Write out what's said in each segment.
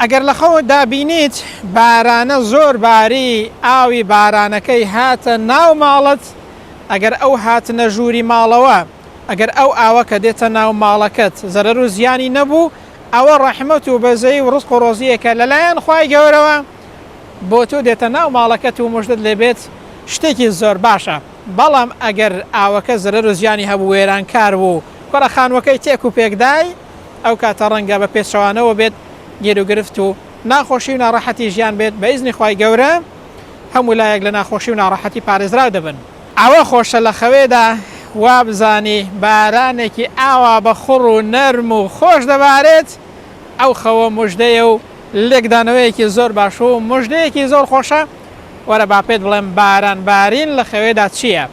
ئەگەر لەخەوت دابینیت بارانە زۆر باری ئاوی بارانەکەی هاتە ناو ماڵت ئەگەر ئەو هاتنە ژووری ماڵەوە ئەگەر ئەو ئاوە کە دێتە ناو ماڵەکەت زەرەر و زیانی نەبوو ئەوە ڕەحمەت و بەزەی و ڕزق و ڕۆزیەکە لەلایەن خوای گەورەوە بۆ تۆ دێتە ناو ماڵەکەت و مژدەت لێبێت شتێکی زۆر باشە بەڵام ئەگەر ئاوەکە زەرەر و زیانی هەبوو وێرانکار بوو کوڕە خانوەکەی تێک و پێکدای ئەو کاتە ڕەنگە بە پێچەوانەوە بێت گیروگرفت و ناخۆشی و ناڕەحەتی ژیان بێت بە ئیزنی خوای گەورە هەموو لایەک لە ناخۆشی و ناڕەحەتی پارێزراو دەبن. ئەوە خۆشە لە خەوێدا وابزانی بارانێکی ئاوا بە خوڕ و نەرم و خۆش دەبارێت ئەو خەوە موژدەیە و لێکدانەوەیەکی زۆر باش و موژدەیەکی زۆر خۆشە وەرە با پێت بڵێم باران بارین لە خەوێدا چیە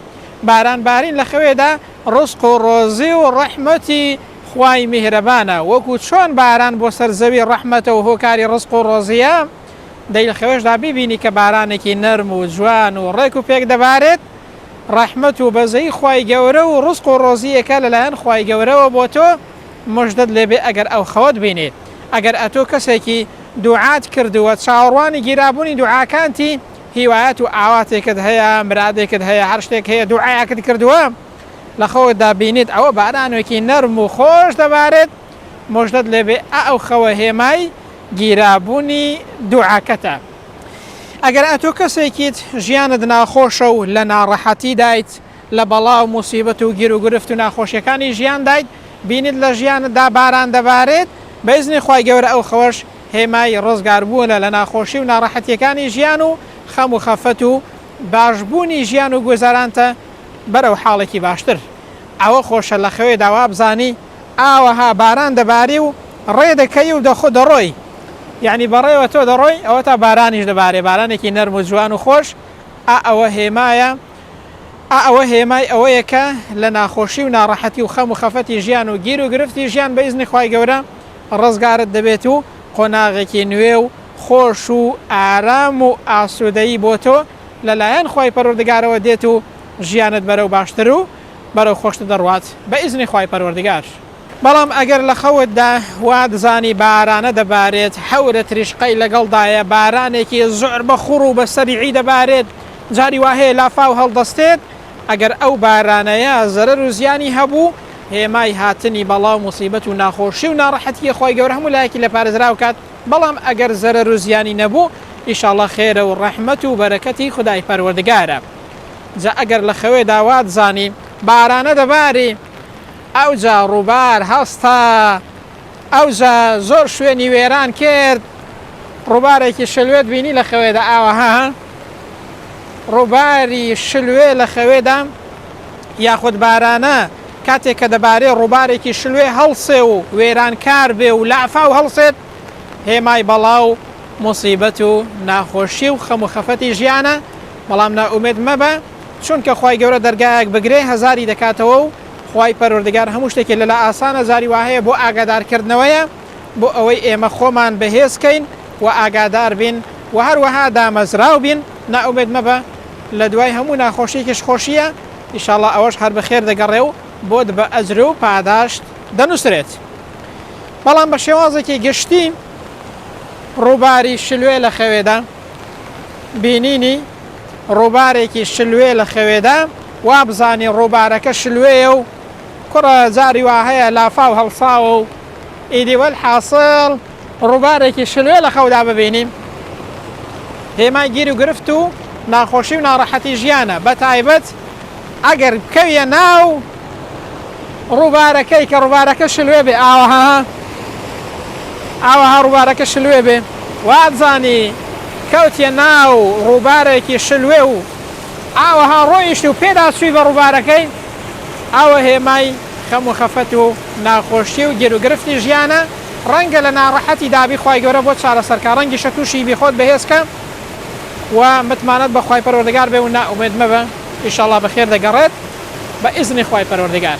باران بارین لە خەوێدا ڕزق و ڕۆزی و ڕەحمەتی خوای میهرەبانە وەکو چۆن باران بۆ سەر زەوی ڕەحمەتە و هۆکاری ڕزق و ڕۆزییە، دەی خەوێشدا بیبینی کە بارانێکی نەرم و جوان و ڕێک و پێک دەبارێت، ڕەحمەت و بەزەیی خوای گەورە و ڕزق و ڕۆزییەکە لەلایەن خوای گەورەوە بۆ تۆ، مژدەت لێ بێ ئەگەر ئەو خەوەت بینی، ئەگەر ئەتۆ کەسێکی دوعات کردووە چاوەڕوانی گیرابوونی دوعاکانتی، هیوایەت و ئاواتێکت هەیە، مرادێکت هەیە، هەر شتێک هەیە دوعایەکت کردووە، لە خەوت دا بینیت ئەوە بارانوێکی نەرم و خۆش دەبارێت موژدەت لێبێ ئەو خەوە هێمای گیرابونی دوعاکەتە ئەگەر ئەتۆ کەسێکیت ژیانت ناخۆشە و لە ناڕەحەتی دایت لە بەڵا و موسیبەت و گیروگرفت و ناخۆشیەکانی ژیان دایت بینیت لە ژیانت دا باران دەبارێت بە ئیزنی خوای گەورە ئەو خەوەش هێمای ڕزگار بونە لە ناخۆشی و ناڕەحەتیەکانی ژیان و خەم و خەفەت و باش بونی ژیان و گوزەرانتە بەرەو حاڵێکی باشتر. ئەوە خۆشە لە خەوێدا وابزانی ئاوەها باران دەباری و ڕێ دەکەی و دە خۆ دەڕۆی یانی بەڕێوە تۆ دەڕۆی ئەوەتا بارانیش دەبارێ بارانێکی نەرم و جوان و خۆش ئا ئەوە هێمایە ئا ئەوە هێمای ئەوەیە کە لە ناخۆشی و ناڕەحەتی و خەم و خەفەتی ژیان و گیر و گرفتی ژیان بە ئیزنی خوای گەورە ڕزگارت دەبێت و قۆناغێکی نوێ و خۆش و ئارام و ئاسوودەیی بۆ تۆ لە لایەن خوای پەروەردگارەوە دێت و ژیانت بەرەو باشتر و بەرەو خۆشتر دەڕوات بە ئیزنی خوای پەروەردگار. بەڵام ئەگەر لە خەوتدا وات زانی بارانە دەبارێت حەورە تریشقەی لەگەڵدایە بارانێکی زۆر بە خوڕ و بە سەریعی دەبارێت جاری وا هەیە لافاو هەڵدەستێت ئەگەر ئەو بارانەیە زەرەر و زیانی هەبوو هێمای هاتنی بەڵا و موسیبەت و ناخۆشی و ناڕەحەتیە خوای گەورە هەموو لایەکی لێ پارێزراو کات بەڵام ئەگەر زەرەر و زیانی نەبوو ئیشاڵڵا خێرە و ڕەحمەت و بەرەکەتی خودای پەروەردگارە جا ئەگەر لە خەوێدا وات زانی بارانە دەباری ئەوجا ڕووبار هەستا ئەوجا زۆر شوێنی وێران کرد ڕووبارێکی شلوێت بینی لە خەوێدا ئاوەها ڕووباری شلوێ لە خەوێدا یاخود بارانە کاتێک کە دەبارێ ڕووبارێکی شلوێ هەڵسێ و وێرانکار بێ و لافاو هەڵسێت، هێمای بەڵا و موسیبەت و ناخۆشی و خەم و خەفەتی ژیانە، بەڵام نائومێد مەبە، چونکە خوای گەورە دەرگایەک بگرێ هەزاری دەکاتەوە و خوای پەروەردگار هەموو شتێکی لەلا ئاسانە، جاری واهەیە بۆ ئاگادارکردنەوەیە بۆ ئەوەی ئێمە خۆمان بەهێز کەین و ئاگادار بین و هەروەها دامەزراو بین، نائومێد مەبە، لەدوای هەموو ناخۆشیەکیش خۆشییە. ئیشاڵا ئەوەش هەر بەخێر دەگەڕێ و بۆت بە ئەجر و پاداشت دەنووسرێت. بەڵام بە شێوازێکی گشتی ڕووباری شلوێ لە خەوێدا بینینی ڕووبارێکی شلوێ لە خەوێدا وابزانی ڕووبارەکە شلوێیە و کوڕە جاری وا هەیە لافاو هەڵساوە و ئیدی وەل حاسڵ ڕووبارێکی شلوێ لە خەودا ببینین هێمای گیر و گرفت و ناخۆشی و ناڕەحەتی ژیانە بە تایبەت ئەگەر بکەویە ناو ڕووبارەکەی کە ڕووبارەکە شلوێ بێ ئاوەها ئاوەها ڕووبارەکە شلوێ بێ وابزانی کەوتە ناو ڕووبارێکی شلوێ و ئاوەها ڕۆیشت و پێدا سوی بە ڕووبارەکەی ئەوە هێمای خەم و خەفەت و ناخۆشی و گێروگرفتی ژیانە ڕەنگە لە ناڕەحەتی دابی خوای گەورە بۆت چارەسەرکا ڕەنگیشە توشی بی خۆت بەهێزکە و متمانەت بە خوای پەروەردگار بێ و نائومێد مەبە ئیشاڵا بەخێر دەگەڕێت بە ئیزنی خوای پەروەردگار.